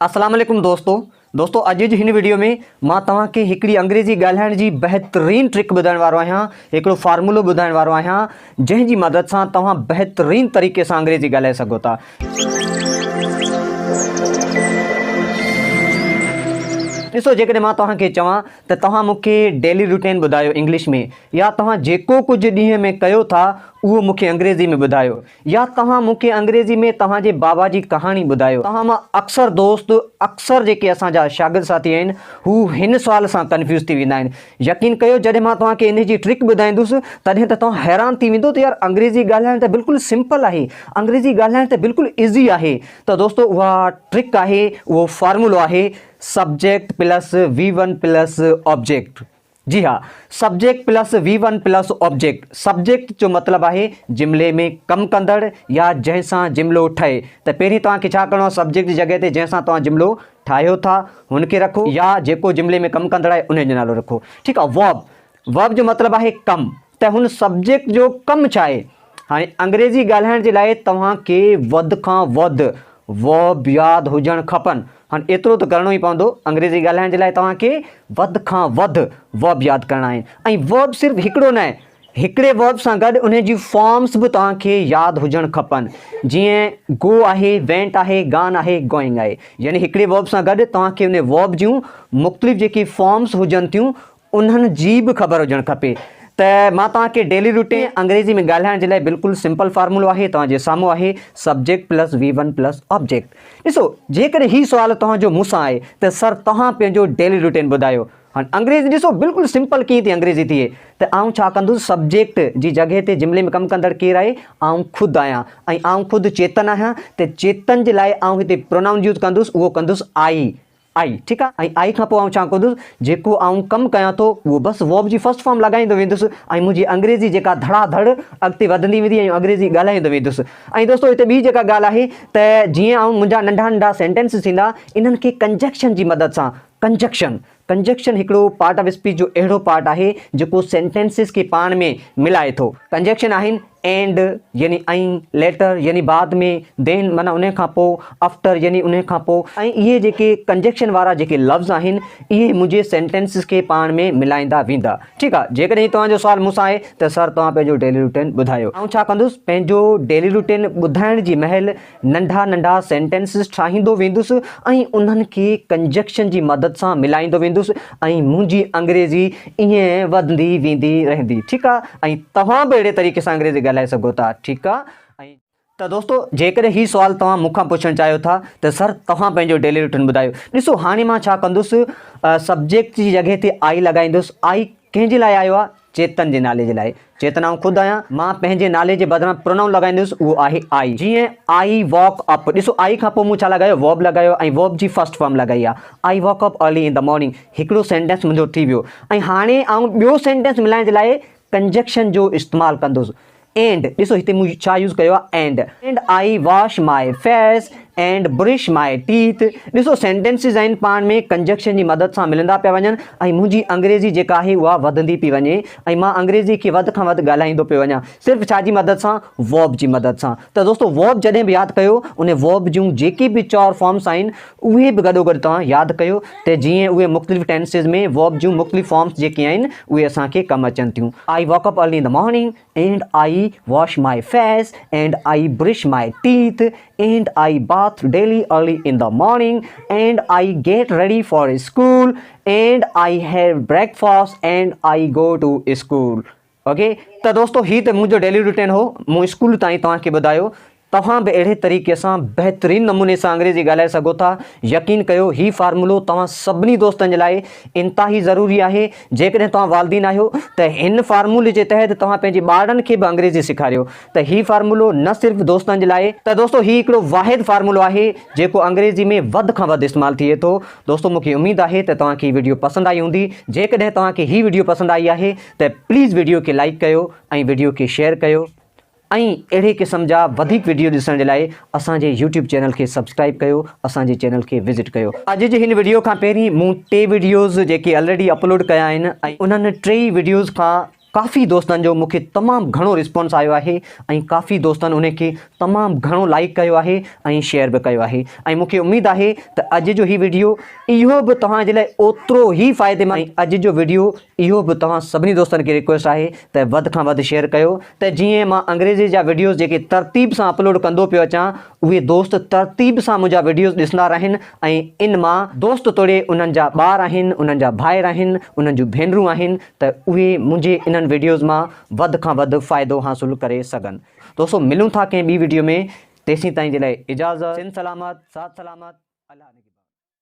اسلام عليڪم دوستو دوستو اڄ جي هن ويڊيو ۾ مان توهان کي هڪڙي انگريزي ڳالهائڻ جي بهترين ٽرڪ ٻڌائڻ وارو آهيان هڪڙو فارمولو ٻڌائڻ وارو آهيان جنهن جي مدد سان توهان بهترين طريقي سان انگريزي ڳالهائي سگهو ٿا ڏسو جيڪڏهن مان توهان کي چوان ته توهان مون کي ڊيلي روٽين ٻڌايو انگلش ۾ يا توهان جيڪو ڪجهه ڏينهن ۾ ڪيو ٿا اهو مون کي انگريزي ۾ ٻڌايو يا توهان مون کي انگريزي ۾ توهان جي بابا جي ڪهاڻي ٻڌايو. توهان مان اڪثر دوست، اڪثر جيڪي اسان جا شاگرد ساٿي آهن، هو هن سوال سان ڪنفيوز ٿي ويندا آهن. يقين ڪيو جڏهن مان توهان کي انهي جي ٽرڪ ٻڌائيندس، تڏهن ته توهان حيران ٿي ويندو ته يار انگريزي ڳالهائڻ ته بلڪل سمپل آهي، انگريزي ڳالهائڻ ته بلڪل ايزي آهي. ته دوستو اها ٽرڪ آهي، اهو فارمولو آهي، subject plus V one plus object. جي ها، subject plus V one plus object, subject جو مطلب آهي جملي ۾ ڪم ڪندڙ يا جنهن سان جملو ٺهي ته پهرين توهان کي ڇا ڪرڻو آهي سبجيڪٽ جي جڳهه تي جنهن سان توهان جملو ٺاهيو ٿا هن کي رکو يا جيڪو جملي ۾ ڪم ڪندڙ آهي انهي جو نالو رکو ٺيڪ آهي Verb، Verb جو مطلب آهي ڪم، ته هن سبجيڪٽ جو ڪم ڇا آهي؟ هاڻي انگريزي ڳالهائڻ جي لاء توهان کي وڌ کان وڌ Verb ياد هجڻ کپن. هاڻي ايترو ته ڪرڻو ئي پوندو، انگريزي ڳالهائڻ جي لاء توهان کي وڌ کان وڌ Verb ياد ڪرڻا آهن ۽ Verb صرف هڪڙو ناهي، هڪڙي Verb سان گڏ انهي جون Forms به توهان کي ياد هجڻ کپن، جيئن Go آهي، Went آهي، Gone آهي، Going آهي. يعني هڪڙي Verb سان گڏ توهان کي انهي Verb جون مختلف جيڪي Forms هجن ٿيون، انهن جي به خبر هجڻ کپي ته مان توهان کي ڊيلي روٽين انگريزي ۾ ڳالهائڻ جي لاء بلڪل سمپل فارمولو آهي توهان جي سامهون آهي subject plus V one plus object ڏسو جيڪڏهن هي سوال توهان جو مون سان آهي ته سر توهان پنهنجو ڊيلي روٽين ٻڌايو هاڻي انگريزي ڏسو بلڪل سمپل ڪيئن ٿي انگريزي ٿئي ته آئون ڇا ڪندس سبجيڪٽ جي جڳهه تي جملي ۾ ڪم ڪندڙ ڪير آهي آئون خود آهيان ۽ آئون خود چيتن آهيان ته چيتن جي لاء آئون هتي پرونائون يوز ڪندس اهو ڪندس آئي آء ٺيڪ آ ۽ آء کان پوء آئون ڇا ڪندس جيڪو آئون ڪم ڪيان ٿو اهو بس ووب جي فرسٽ فارم لاڳائيندو ويندس ۽ منهنجي انگريزي جيڪا ڌڙا ڌڙ اڳتي وڌندي ويندي ۽ انگريزي ڳالهائيندو ويندس ۽ دوستو هتي ٻي جيڪا ڳالهه آهي ته جيئن آئون منهنجا ننڍا ننڍا سينٽينس ٿيندا انهن کي ڪنجڪشن جي مدد سان ڪنجڪشن ڪنجڪشن هڪڙو پارٽ آف اسپيچ جو اهڙو پارٽ آهي جيڪو سينٽينسز کي پاڻ ۾ ملائي ٿو ڪنجڪشن آهن اينڊ يعني ۽ ليٽر يعني بعد ۾، دين معنيٰ انهيء کان پوء، افٽر يعني انهيء کان پوء. ۽ اهي جيڪي ڪنجيڪشن وارا جيڪي لفظ آهن، اهي منهنجي سينٽينسز کي پاڻ ۾ ملائيندا ويندا. ٺيڪ آ. جيڪڏهن هي توهان جو سوال مون سان آهي ته سر توهان پنهنجو ڊيلي روٽين ٻڌايو. آئون ڇا ڪندس، پنهنجو ڊيلي روٽين ٻڌائڻ جي مهل، ننڍا ننڍا سينٽينسز ٺاهيندو ويندس ۽ انهن کي ڪنجنڪشن جي مدد سان ملائيندو ويندس ۽ منهنجي انگريزي ائين وڌندي ويندي رهندي ٺيڪ آ ۽ توهان به اهڙي طريقي سان انگريزي ڳالهائي سگهو ٿا ٺيڪ آ. ته دوستو جيڪڏهن هي سوال توهان مون کان پڇڻ چاهيو ٿا ته سر توهان پنهنجو ڊيلي روٽين ٻڌايو ڏسو هاڻي مان ڇا ڪندس سبجيڪٽ جي جڳهه تي آئي لڳائيندس آئي ڪنهن جي لاء آيو آ چيتن جي نالي جي لاء چيتن آئون خود آهيان. مان پنهنجي نالي جي بدران پرونائون لڳائيندس اهو آهي آء. جيئن آئي واڪ اپ ڏسو آئي کان پوء مون ڇا لڳايو ورب لڳايو ۽ ورب جي فرسٽ فارم لڳائي آهي I wake up early in the morning هڪڙو سينٽينس منهنجو ٿي ويو ۽ هاڻي آئون ٻيو سينٽينس ملائڻ جي لاء ڪنجنڪشن جو استعمال ڪندس اينڊ، ڏسو هتي مون ڇا يوز ڪيو آهي and. And I wash my face and brush my teeth. ڏسو سينٽينسز آهن پاڻ ۾ ڪنجنڪشن جي مدد سان ملندا پيا وڃن ۽ منهنجي انگريزي جيڪا آهي اها وڌندي پئي وڃي ۽ مان انگريزي کي وڌ کان وڌ ڳالهائيندو پيو وڃان صرف ڇا جي مدد سان Verb جي مدد سان ته دوستو Verb جڏهن به ياد ڪيو ان Verb جون جيڪي به چار فارمس آهن اهي به گڏوگڏ توهان ياد ڪيو ته جيئن اهي مختلف ٽينسز ۾ Verb جون مختلف فارمز جيڪي آهن اهي اسان کي ڪم اچن ٿيون. I wake up early in the morning and I wash my face and I brush my teeth and I bath daily early in the morning and I get ready for school and I have breakfast and I go to school. Okay ته دوستو هي ته منهنجو daily routine هو مون school تائين توهان کي ٻڌايو توهان به اهڙي طريقي سان بهترين نموني سان انگريزي ڳالهائي سگهو ٿا يقين ڪيو هي فارمولو توهان سڀني دوستن جي لاء انتهائي ضروري آهي جيڪڏهن توهان والدين آهيو ته هن فارمولي جي تحت توهان پنهنجي ٻارڙن کي به انگريزي سيکاريو ته هي فارمولو نه صرف دوستن جي لاء ته دوستو هي هڪڙو واحد فارمولو آهي جيڪو انگريزي ۾ وڌ کان وڌ استعمال ٿئي ٿو دوستو مون کي اميد آهي ته توهان کي هي وڊيو پسند آئي هوندي جيڪڏهن توهان کي هي وڊيو پسند آئي آهي ته پليز ويڊيو کي لائيڪ ڪيو ۽ ويڊيو کي شيئر ڪيو ۽ اهڙي قسم جا وڌيڪ ويڊيو ڏسڻ جي لاء اسان جي يوٽيوب چينل کي سبسڪرائيب ڪيو اسان جي چينل کي وزٽ ڪيو. اڄ جي هن ويڊيو کان پهرين مون ٽي ويڊيوز جيڪي الريڊي اپلوڊ ڪيا آهن ۽ انهن ٽيئي ويڊيوز کان ڪافي دوستن جو مون کي تمام گهڻو رسپانس آيو آهي ۽ ڪافي دوستن انهن کي تمام گهڻو لائيڪ ڪيو آهي ۽ شيئر به ڪيو آهي ۽ مون کي اميد آهي ته اڄ جو هي ويڊيو اهو به توهان جي لاء اوترو ئي فائديمند ۽ اڄ جو ويڊيو اهو به توهان سڀني دوستن کي ريڪويسٽ آهي ته وڌ کان وڌ شيئر ڪيو ته جيئن مان انگريزي جا وڊيوز جيڪي ترتيب سان اپلوڊ ڪندو پيو اچان اهي دوست ترتيب سان منهنجا وڊيوز ڏسندا رهن ۽ ان مان دوست توڙي انهن جا ٻار آهن انهن جا ڀائر آهن انهن جون ڀينرون آهن ته اهي منهنجي انهن وڊيوز مان وڌ کان وڌ فائدو حاصل ڪري سگهن دوستو ملون ٿا ڪنهن ٻي وڊيو ۾ تيسين تائين جي لاء اجازت سنڌ سلامت ساٿ سلامت الله نگهبان.